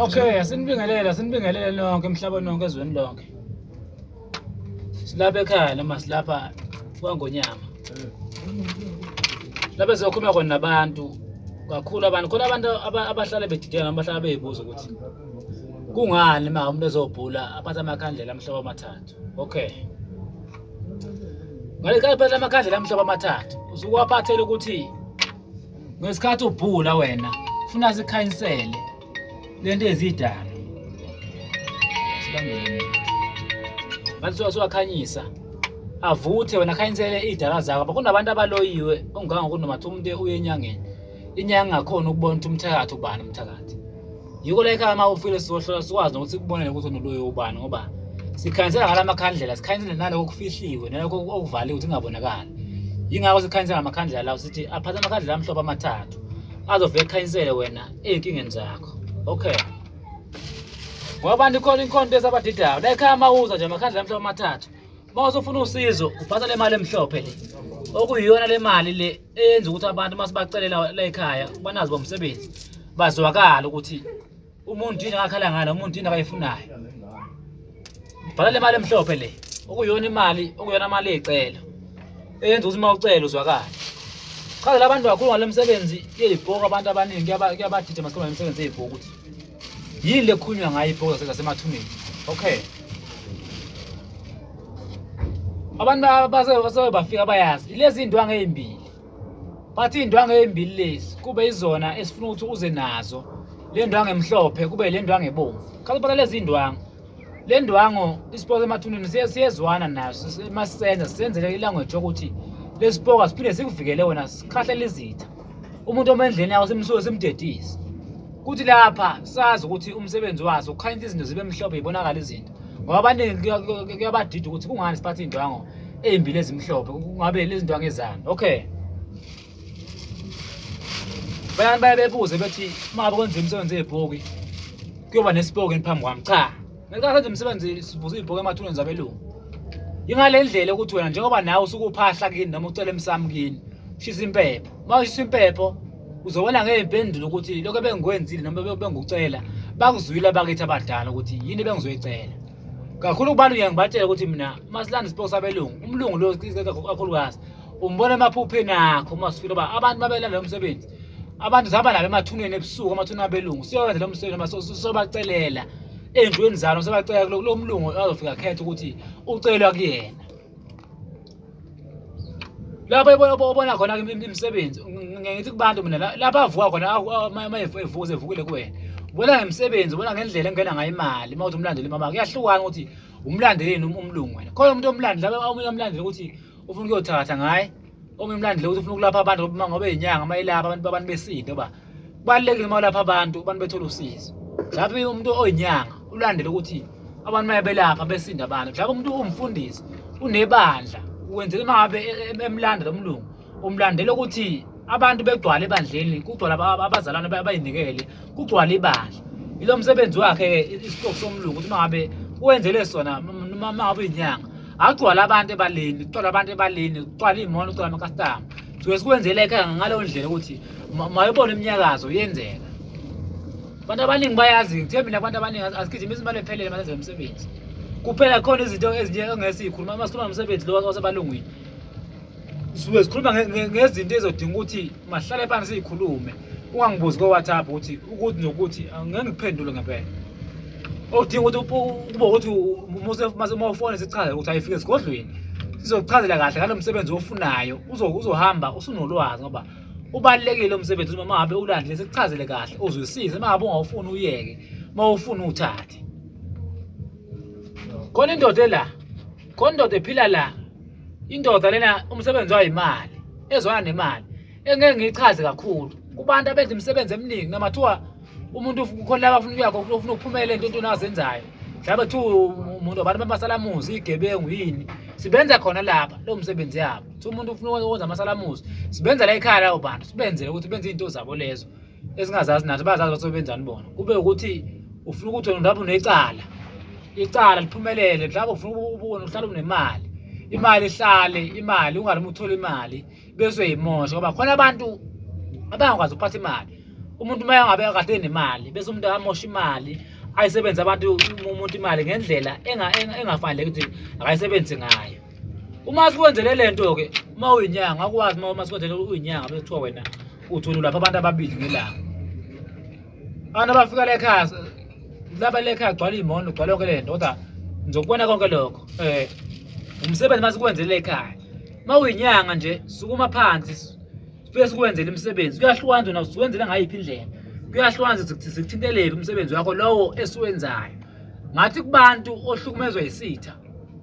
Okay, asinibingelele, asinibingelele nonke emhlabeni nonke ezweni lonke. Silapha ekhaya noma silapha kwangonyama. Lapha sizokhuluma khona nabantu kakhulu abantu khona abantu abahlale bedideka noma bahlala beyibuza ukuthi kungani ma umuntu ezobhula aphatha amakhandlela amhlobo amathathu okay ngale ka aphatha amakhandlela amhlobo amathathu usukwaphathela ukuthi ngesikhathi ubhula wena funa sikhayinsele lento ezidala sibambele ngathi siwakhanyisa avuthe wena khayinsele iy'dala zakho kunabantu abaloyiwe ongangokunomathi umuntu uye enyangeni inyanga ngakhona ukubona ukuthi umthakathi ubani umthakathi yiko la ekhaya uma ufile sizohlola sikwazi nokuthi kubonele ukuthi unoloyo ubani ngoba sikhanyisela ngala makhandlela sikhanyisele naloko okufihliwe naloko okuvaliwe ukuthi kungabonakali yingakho sikhanyisela ngamakhandlela lawo sithi aphathe amakhandlela amhlophe amathathu azovele ekhanyisele wena ey'nkingeni zakho okay ngoba abantu ikhona inkhonto esabadidayo la ekhaya uma uza nje amakhandlela amhlophe amathathu uma usufuna usizo uphatha le mali emhlophe le okuyiyona le mali le eyenza ukuthi abantu uma sibacelela la ekhaya banazi bomsebenzi bazwakala ukuthi umuntu yini akakhala ngalo umuntu yini akayifunayo bhala le mali emhlophe le okuyiyona imali okuyona mali eyicelo eyenza ukuthi uma ucela uzwakala chazela abantu kakhulu ngalo msebenzi yeyibhoku abantu abaningi kuyabadida masikhuluma nemisebenzi yeyibhoku ukuthi yini lekhulunywa ngayo ibhokoza zasemathuneni okay abantu basewe bafika bayazi ilezi iy'ndwangu ey'mbili bathi iy'ndwangu ey'mbili lezi kube izona esifuna ukuthi uze nazo le ndwangu emhlophe kube le ndwangu ebomvu khathi ubona lezi iy'ndwangu le ndwangu isipoka emathuneni siyezwana naso uma sisenza sisenzele ilanguage yokuthi lesipoka siphinde sikuvikele wena sikhahlele izitha umuntu omendleni yawo simsuke simdedise kuthi lapha sazi ukuthi umsebenzi waso ukhanyisa izinto zibe mhlophe yibonakala izinto ngoba abaningi kuyabadida ukuthi kungani siphathe iy'ndwango ey'mbili ezimhlophe kungabe lezi ndwango ezani okay bayani baye bebuze bethi uma kwenza imisebenzi yebhoki kuyoba nesipoki phambi kwami cha ngenkathi enza umsebenzi sivuza ibhoke emathuneni zabelungu yingale ndlela ukuthi wena njengoba nawe usuke uphahla kini noma ucela emsami kini ushisa impepho uma ushisa impepho uzobona ngey'mpendulo ukuthi lokho ebengikwenzile noma bengucela bakuzwile abakithi abadala ukuthi yini bengizoyicela kakhulu kubantu ngiye ngibatshele ukuthi mina uma silanda isipoko sabelungu umlungu lo kakhulukazi umbona emaphupheni akho uma sifile uba abantu babelanda lo msebenzi abantu zihamba nabo emathuneni ebusuku amathuneni abelungu siyowenza lo msebenzi noma sobacelela endlweni zalo sobacelela kulo mlungu azofika khetha ukuthi ucelwa kuyena lapho obona khona imisebenzi ngithi kubantu mina lapho avuka khona uma evuze evukile kuwena ubona ngemisebenzi ubona ngendlela engena ngayo imali uma uthi umlandeli mama kuyahlukana ukuthi umlandeleni umlungu wena khona umuntu omlandela omunye omlandela ukuthi ufuna ukuyothatha ngaye ongimlandile ukuthi ufuna ukulapha abantu ngoba ngoba inyanga uma ilapha abantu babantu besinto ba kubalekile uma ulapha abantu abantu bethola usizo lapho umuntu oyinyanga ulandele ukuthi abantu maye belapha besinda abantu lapho umuntu umfundisi unebandla wenzela uma ngabe e- e- emlanda lo mlungu umlandela ukuthi abantu begcwale ebandleni kugcwala aba- abazalwane aba- abayinikele kugcwale ibandla ilo msebenzi wakhe-ke isiqoku somlungu ukuthi uma ngabe wenzele sona noma uma ngabe inyanga akugcwala abantu ebaleni kugcwala abantu ebaleni kugcwala iy'mono kugcwala amakastama suke sikwenzeleke ngaleyo ndlela ukuthi mayobona iminyakazo yenzeka abantu abaningi bayazi ngithe mina abantu abaningi asigijima izimali ephelele masenze umsebenzi kuphela khona izinto ezinye ongesiyikhuluma uma sikhuluma ngomsebenzi lo wasebalungwini sisuke sikhuluma ngezinto ezodinga ukuthi mahlale phansi siyikhulume ungangibuzi ko-whatsapp ukuthi ukuthi nokuthi ngeke ngikuphendule ngempela okudinga ukuthi kuba ukuthi uma ufone sichaze ukuthi ayifike esigodlweni sizokuchazela kahle ngalo msebenzi ofunayo uzohamba usunolwazi ngoba ubalulekile umsebenzi uma ngabe ulandile sikuchazele kahle uzwisise uma ngabe ungawufuni uyeke uma ufuna uthathe khona indoda la khona indoda ephila la indoda lena umsebenzi wayo imali ezwana nemali engeke ngiyichaze kakhulu kubantu abenza imisebenzi eminingi noma kuthiwa umuntu kukhona laba afuna ukuyakho ufuna ukuphumela into into nazenzayo mhlawumbe kuthiwa umuntu abantu bamasalamuzi igebengu yini sibenza khona lapha lo msebenzi yabo kuthiwa umuntu ufuna ukwenza amasalamuzi sibenza la ekhaya lawo bantu sibenzele ukuthi benze izinto zabo lezo esingazazi nathi bazazi bathi benzani bona kube ukuthi ufuna ukuthi wena mhlawumbe unecala icala liphumelele mhlawumbe ufuna ubona uhlale unemali imali ihlale imali ungalimi uthole imali bese uyimosha ngoba khona abantu abangakwazi ukuphatha imali umuntu uma engabe kade nemali bese umuntu amosha imali ayisebenze abantu umuntu imali ngendlela engafaneleki ukuthi akayisebenzise ngayo uma sikwenzele le nto ke uma uyinyanga akwazi uma uma sikwenzele uyinyanga bese kuthiwa wena uthi ulapha abantu ababili ngelanga abantu abafika la ekhaya laba la ekhaya gcwala iy'mono gcwala yonke le nto kodwa ngizokubona konke lokho um umsebenzi uma sikwenzele ekhaya uma uyinyanga nje sukuma phansi sifike sikwenzele imisebenzi kuyahlukana nje nasikwenzele ngayiphi indlela kuyahlukana nje sikuthintelele umsebenzi wakho lowo esiwenzayo ngathi kubantu ohlukumezwa yisitha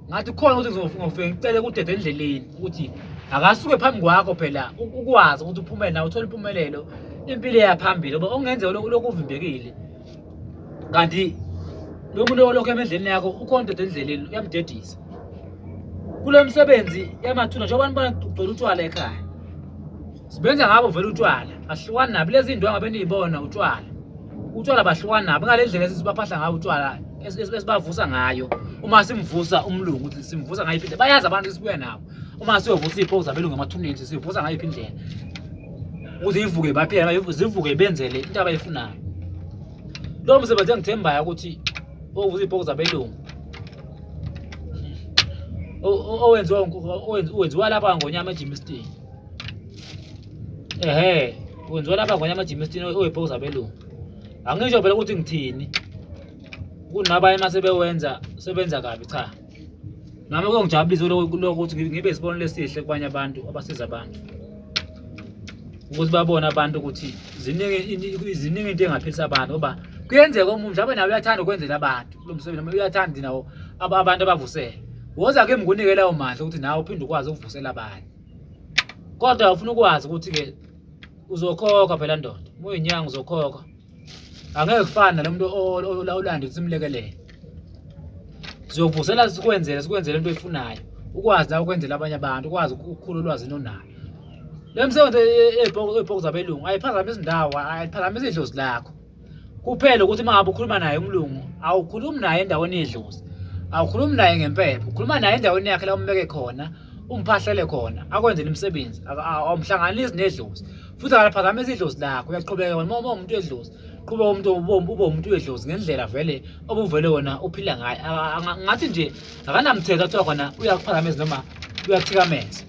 ngathi khona ukuthi ngizofike ngicele kudede endleleni ukuthi akasuke phambi kwakho phela ukwazi ukuthi uphumele nawe uthole impumelelo impilo eyaphambili ngoba okungenzeka lokhu uvimbekile kanti lo muntu olokhu emendleleni yakho ukhona udede endleleni uyamdedisa kulo msebenzi yamathuna njengoba nibona kugcwele utshwala ekhaya Sibenza ngabo vele utshwala. Ahlukani nabi lezi ndonga beniyibona utshwala. Utshwala bahlukani nabi ngalendlela esibaphahla ngayo utshwala esibavusa ngayo. Uma simvusa umlungu ukuthi simvusa ngayo iphinde bayazi abantu sibuya nabo. Uma siyovusa ipho zabelungu emathuneni sivusa ngayo iphindlela. Uze ivuke baphela zivuke benzele into abayifunayo. Lo msebenzi engithembayo ukuthi ovusa ipho zabelungu owenziwa owenziwa lapha ngonyama ejimistini ehe kwenziwa laba kwanye amajimistini oyibhoki zabelungu angisho phela ukuthi ngithini kunabanye uma sebewenza sebenza kabi cha nami kongijabulisa lokuthi ngibe isibonelo esihle kubanye abantu abasiza abantu ukuthi babone abantu ukuthi ziningi ziningi into engaphilisa abantu ngoba kuyenzeka omunye mhlawumbe nawe uyathanda ukwenzela abantu kulo msebenzi noma uyathanda nawo abantu abavusele woza ke mngunikelayo mandla ukuthi nawe uphinde ukwazi ukuvusela abanye kodwa ufuna ukwazi ukuthi-ke uzokhokha phela ndoda uma uyinyanga uzokhokha angeke kufane nalo muntu olawulanda ukuthi simlekelele sizokuvusela sikwenzele sikwenzele into oyifunayo ukwazi la ukwenzela abanye abantu ukwazi ukukhulu ulwazi nonayo le msebenzi ey'bhoko zabelungu ayiphazamisi indawo ayiphazamisi idlozi lakho kuphela ukuthi uma ngabe ukhuluma naye umlungu awukhulumi naye endaweni yedlozi awukhulumi naye ngempepho ukhuluma naye endaweni yakhe la umbeke khona umphahlele khona akwenzele imisebenzi awumhlanganisi nedlozi futhi akalaphazamisa idlozi lakho uyaqhubeka wena uma umuntu wedlozi qhuba umuntu ube umuntu wedlozi ngendlela vele obuvele wona uphila ngayo ngathi nje akanamthetho kuthiwa khona uyakuphazamisa noma uyathikameza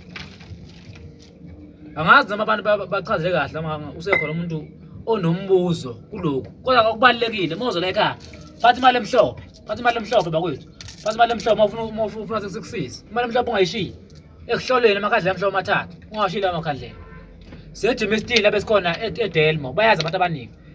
angazi noma abantu bachaze kahle mama usekhona umuntu onombuzo kulokhu kodwa okubalekile mozo la ekhaya phatha imali emhlophe phatha imali emhlophe bakwethu phatha imali emhlophe mawufuna mawufuna ufuna sekusiza imali emhlophe ungayishiyi ekuhlolweni amakhandlela amhlophe amathathu ungawashiyile amakhandlela sejimistile abesikhona edelmo bayazi abantu abaningi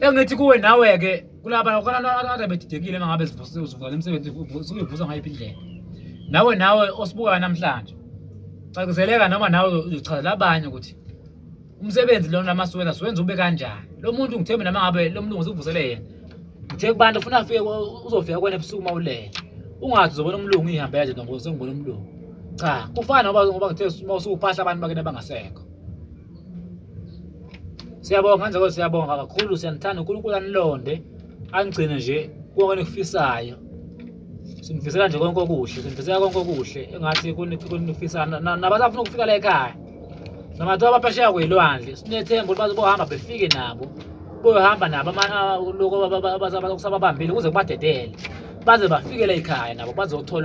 engithi kuwe nawe-ke kulaba ade bedidekile mangabe zivusa le msebenzi suyivusa ngayiphi indlela nawe nawe osibukayo namhlanje caciseleka noma nawe uzochazela abanye ukuthi umsebenzi lona masiwenza siwenza ube kanjani lo muntu ngithembe nama ngabe lo mlungu usivusele yena ngithe kubantu ufuna afike uzofika kwena ebusuku uma ulele ungathi uzobona umlungu ihambela nje nongoze ngibona umlungu cha kufana ngoba ngoba ngithe uma usukuphahla abantu bakena bangasekho siyabonga manje kodwa siyabonga kakhulu siyanithanda unkulunkulu anilonde angigcine nje konke enikufisayo sinifisela nje konke okuhle sinifisela konke okuhle engathi kunifisa nabasafuna ukufika la ekhaya noma kuthiwa abaphesheya kweyilwandle sinethemba ukuthi bazobohamba befike nabo boyohamba nabo loku kusababambile kuze kubadedele baze bafike la ekhaya nabo bazothola